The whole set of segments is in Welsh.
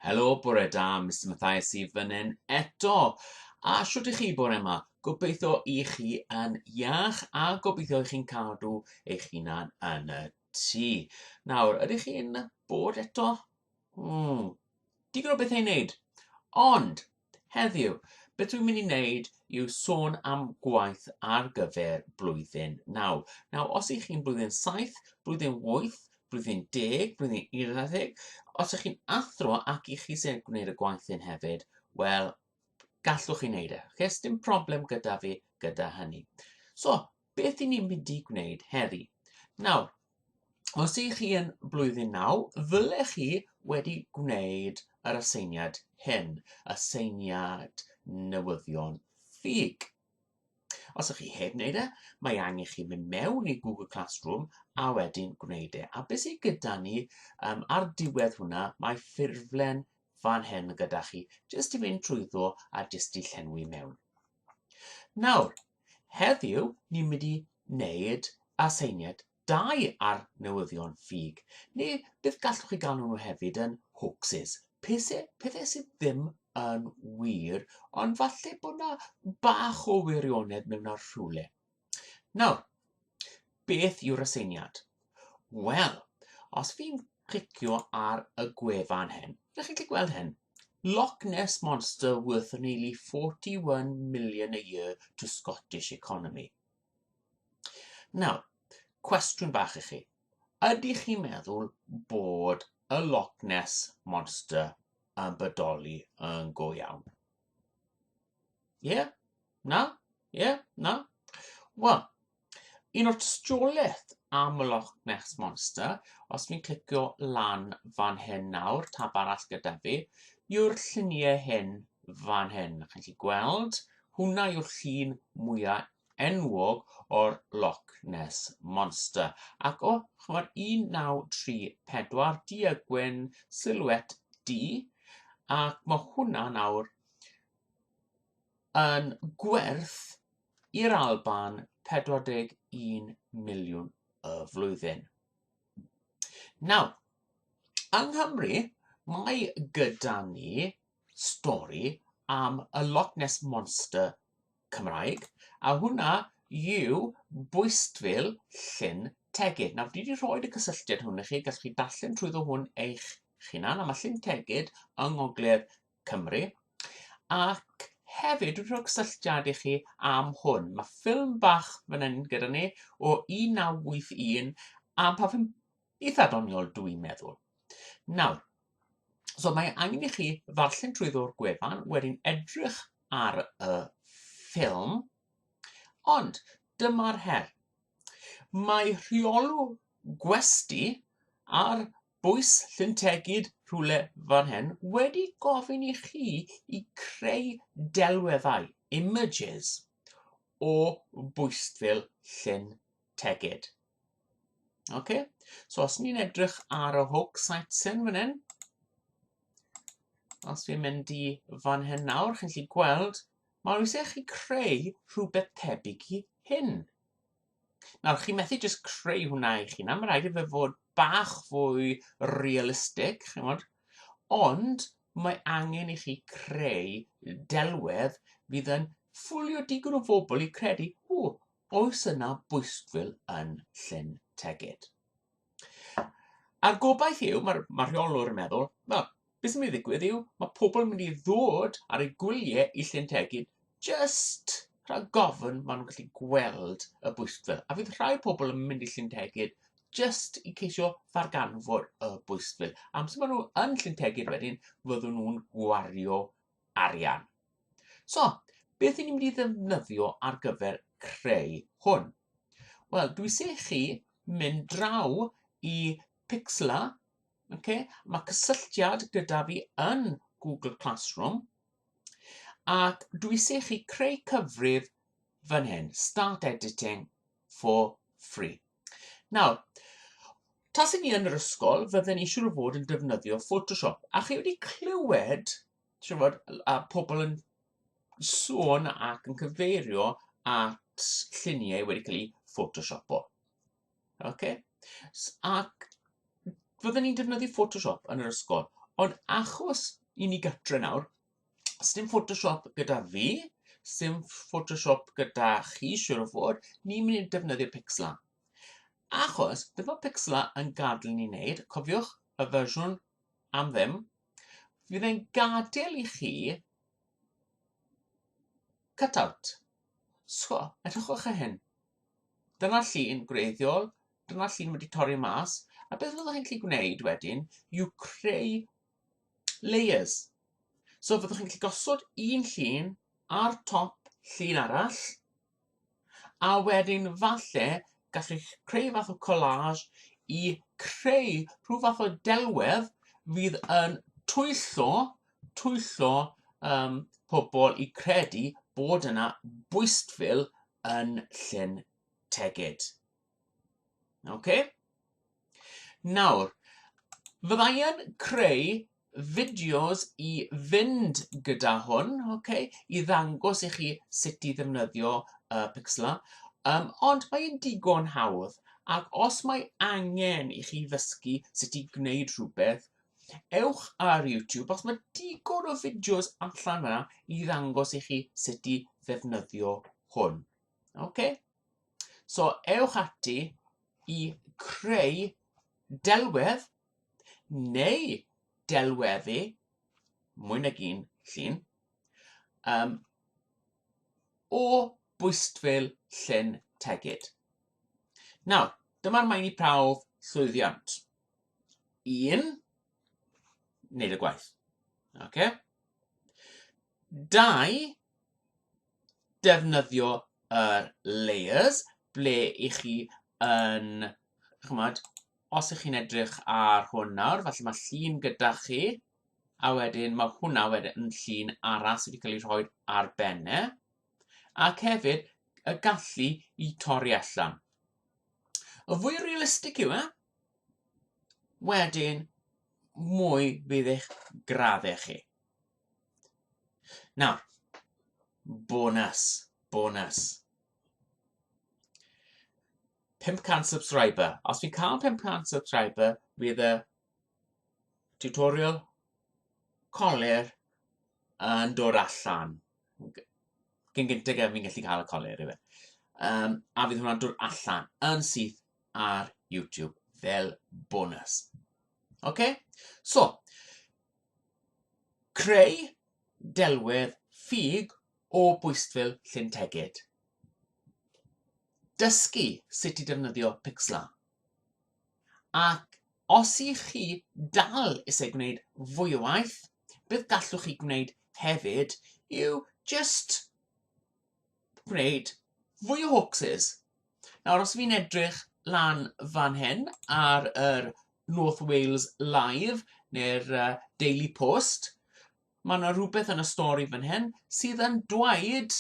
Helo, bore da, Mr Mathias i fyny'n eto. A shwt i chi bore yma? Gobeithio i chi yn iach a gobeithio i chi'n cadw eich hunan yn y tŷ. Nawr, ydych chi'n bod eto? Hmm, digon o bethau i wneud. Ond, Heddiw, beth dwi'n mynd i wneud yw sôn am gwaith ar gyfer blwyddyn 9. Nawr, os ych chi'n blwyddyn 7, blwyddyn 8, blwyddyn 10, blwyddyn 11, os ych chi'n athro ac i chi sy'n gwneud y gwaith hyn hefyd, wel, gallwch chi wneud e. Okay? Dim problem gyda fi gyda hynny. So, beth i ni'n mynd i gwneud heddi. Nawr, os ych chi yn blwyddyn naw, ddylech chi wedi gwneud yr aseiniad hyn, aseiniad newyddion ffug. Os ych chi heb wneud e, mae angen chi mynd mewn i Google Classroom a wedyn gwneud e. A beth sydd gyda ni um, ar diwedd hwnna, mae ffurflen fan hyn gyda chi, jyst i fynd trwyddo a jyst i llenwi mewn. Nawr, Heddiw, ni'n mynd i wneud aseiniad dau ar newyddion ffug, neu beth gallwch chi galw nhw hefyd yn hoaxes, pethau, pethau sydd ddim yn wir, ond falle bod yna bach o wirionedd mewn ar rhywle. Nawr, Beth yw'r aseiniad? Wel, os fi'n clicio ar y gwefan hyn, ydych chi'n gallu gweld hyn? Loch Ness Monster worth nearly 41 million a year to Scottish economy. Nawr, cwestiwn bach i chi. Ydych chi'n meddwl bod y Loch Ness Monster yn bodoli yn go iawn? Ie? Na? Ie? Na? Wel, un o'r tystiolaeth am y Loch Ness Monster, os fi'n clicio lan fan hyn nawr, tab arall gyda fi, yw'r lluniau hyn fan hyn. Chi'n gallu gweld, hwnna yw'r llun mwyaf enwog o'r Loch Ness Monster, ac o, ch'mod, 1934, du a gwyn, silhouette du, ac mae hwnna nawr yn gwerth i'r Alban 41 miliwn y flwyddyn. Nawr, yng Nghymru, mae gyda ni stori am y Loch Ness Monster Cymraeg, a hwnna yw bwystfil Llyn Tegid. Nawr, dwi wedi rhoi y cysylltiad hwn i chi, gallwch chi darllen trwyddo hwn eich hunan, a mae Llyn Tegid yng Ngogledd Cymru, ac hefyd dwi'n rhoi cysylltiad i chi am hwn. Mae ffilm bach fan hyn gyda ni o 1981 am pa fi'n eitha' doniol dw i'n meddwl. Nawr, so mae angen i chi ddarllen trwyddo'r gwefan, wedyn edrych ar y ffilm, ond dyma'r her. Mae rheolw gwesti ar bwys llyntegid rhywle fan hyn wedi gofyn i chi i creu delweddau, images, o bwystfil llyn tegid. Okay. So os ni'n edrych ar y hook sightseeing fan hyn, os fi'n mynd i fan hyn nawr, chi'n gallu gweld, mae'n rhywbeth eich chi creu rhywbeth tebyg i hyn. Nawr, chi'n methu jyst creu hwnna i chi, na, mae'n rhaid i fe fod bach fwy realistig, chi'n gwybod, ond mae angen i chi creu delwedd fydd yn ffwlio digon o bobl i credu, o, Oes yna bwystfil yn Llyn Tegid? A'r gobaith yw, mae'r ma rheolwr yn meddwl, na, beth sy'n mynd i ddigwydd yw, mae pobl yn mynd i ddod ar eu gwyliau i Llyn Tegid just rhag gofyn maen nhw'n gallu gweld y bwystfil. A fydd rhai pobl yn mynd i Llyn Tegid just i ceisio ddarganfod y bwystfil. Amser maen nhw yn Llyn Tegid wedyn, fyddwn nhw'n gwario arian. So, beth i ni'n mynd i ddefnyddio ar gyfer creu hwn? Wel, dwi se chi mynd draw i Pixla, okay? mae cysylltiad gyda fi yn Google Classroom, ac dwi se chi creu cyfrif fan hyn, Start Editing, for free. Nawr, tas i ni yn yr ysgol, fydden ni siŵr o fod yn defnyddio Photoshop. A chi wedi clywed, siŵr fod, a pobl yn sôn ac yn cyfeirio at lluniau wedi cael eu Photoshopo. Okay? Ac fydden ni'n defnyddio Photoshop yn yr ysgol, ond achos i ni gatre nawr, Sdim Photoshop gyda fi, sdim Photoshop gyda chi, siwr o fod, ni'n mynd i defnyddio Pixla. Achos, beth mae Pixla yn gadael ni wneud, cofiwch y fersiwn am ddim, fydd e'n gadael i chi cut-out. So, edrychwch ar hyn. Dyna llun gwreiddiol, dyna llun wedi torri mas, a beth fyddwch chi'n gallu gwneud wedyn yw creu layers. So fyddwch chi'n gallu gosod un llun ar top llun arall, a wedyn falle gallu creu fath o collage i creu rhyw fath o delwedd fydd yn twyllo, twyllo um, pobl i credu bod yna bwystfil yn Llyn Tegid. Oce? Okay? Nawr, fydda i yn creu fideos i fynd gyda hwn, okay, i ddangos i chi sut i ddefnyddio uh, Pixlr, um, ond mae'n digon hawdd, ac os mae angen i chi ddysgu sut i gwneud rhywbeth, ewch ar YouTube, os mae digon o fideos allan yna i ddangos i chi sut i ddefnyddio hwn. Okay? So ewch ati i creu delwedd neu delweddu mwy nag un llun um, o bwystfil llyn tegid. Nawr, dyma'r maen i prawf llwyddiant. Un, wneud y gwaith. Okay? dau, defnyddio yr layers ble i chi yn, chymod, os ych chi'n edrych ar hwn nawr, falle mae llun gyda chi, a wedyn mae hwnna wedyn yn llun arall sydd wedi cael ei rhoi ar benne, ac hefyd y gallu i torri allan. Y fwy realistig yw e, wedyn mwy fydd eich graddau chi. Nawr, bonus, bonus. 500 subscriber. Os fi'n cael 500 subscriber, bydd y tutorial colir yn dod allan. Cyn gyntaf gen fi'n gallu cael y colir i fe. Um, a fydd hwnna'n dod allan yn syth ar YouTube fel bonus. OK? So, Creu delwedd ffug o bwystfil Llyn Tegid. Dysgu sut i defnyddio Pixlr. Ac os i chi dal eisiau gwneud fwy o waith, beth gallwch chi gwneud hefyd yw just gwneud fwy o hoaxes. Nawr os fi'n edrych lan fan hyn ar yr North Wales Live neu'r uh, Daily Post, mae yna rhywbeth yn y stori fan hyn sydd yn dweud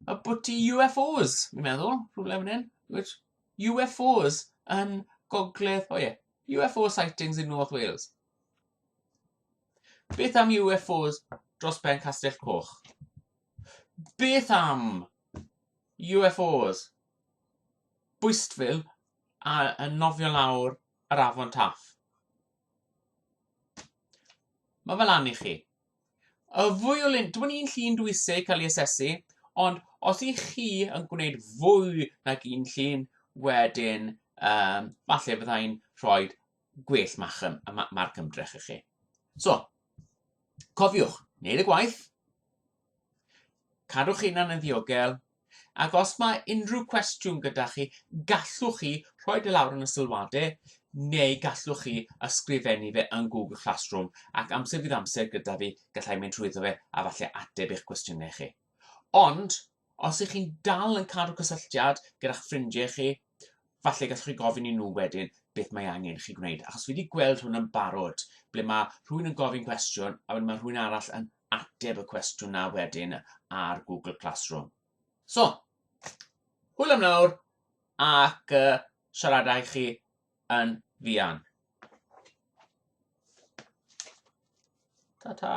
y bod ti UFOs, fi'n meddwl, rhywle fan hyn, which UFOs yn gogledd, o oh ie, yeah, UFO sightings in North Wales. Beth am UFOs dros ben Castell Coch? Beth am UFOs bwystfil a yn nofio lawr yr afon Taff? Mae fel lan i chi. Y fwy o lun, dwi'n un llun dwi eisiau cael ei asesu, ond os i chi yn gwneud fwy nag un llun, wedyn, um, falle byddai'n rhoi gwell ma'ch ym, ma, marc ymdrech i chi. So, cofiwch, wneud y gwaith, cadwch hunan yn ddiogel, ac os mae unrhyw cwestiwn gyda chi, gallwch chi rhoi dy lawr yn y sylwadau, neu gallwch chi ysgrifennu fe yn Google Classroom, ac amser fydd amser gyda fi, gallai mynd trwyddo fe a falle ateb eich cwestiynau chi. Ond, Os ych chi'n dal yn cadw cysylltiad gyda'ch ffrindiau chi, falle gallwch chi gofyn i nhw wedyn beth mae angen i chi gwneud, achos fi wedi gweld hwn yn barod, ble mae rhywun yn gofyn cwestiwn, a wedyn mae rhywun arall yn ateb y cwestiwn na wedyn ar Google Classroom. So, hwyl am nawr, ac uh, siaradau chi yn fuan. Ta-ta!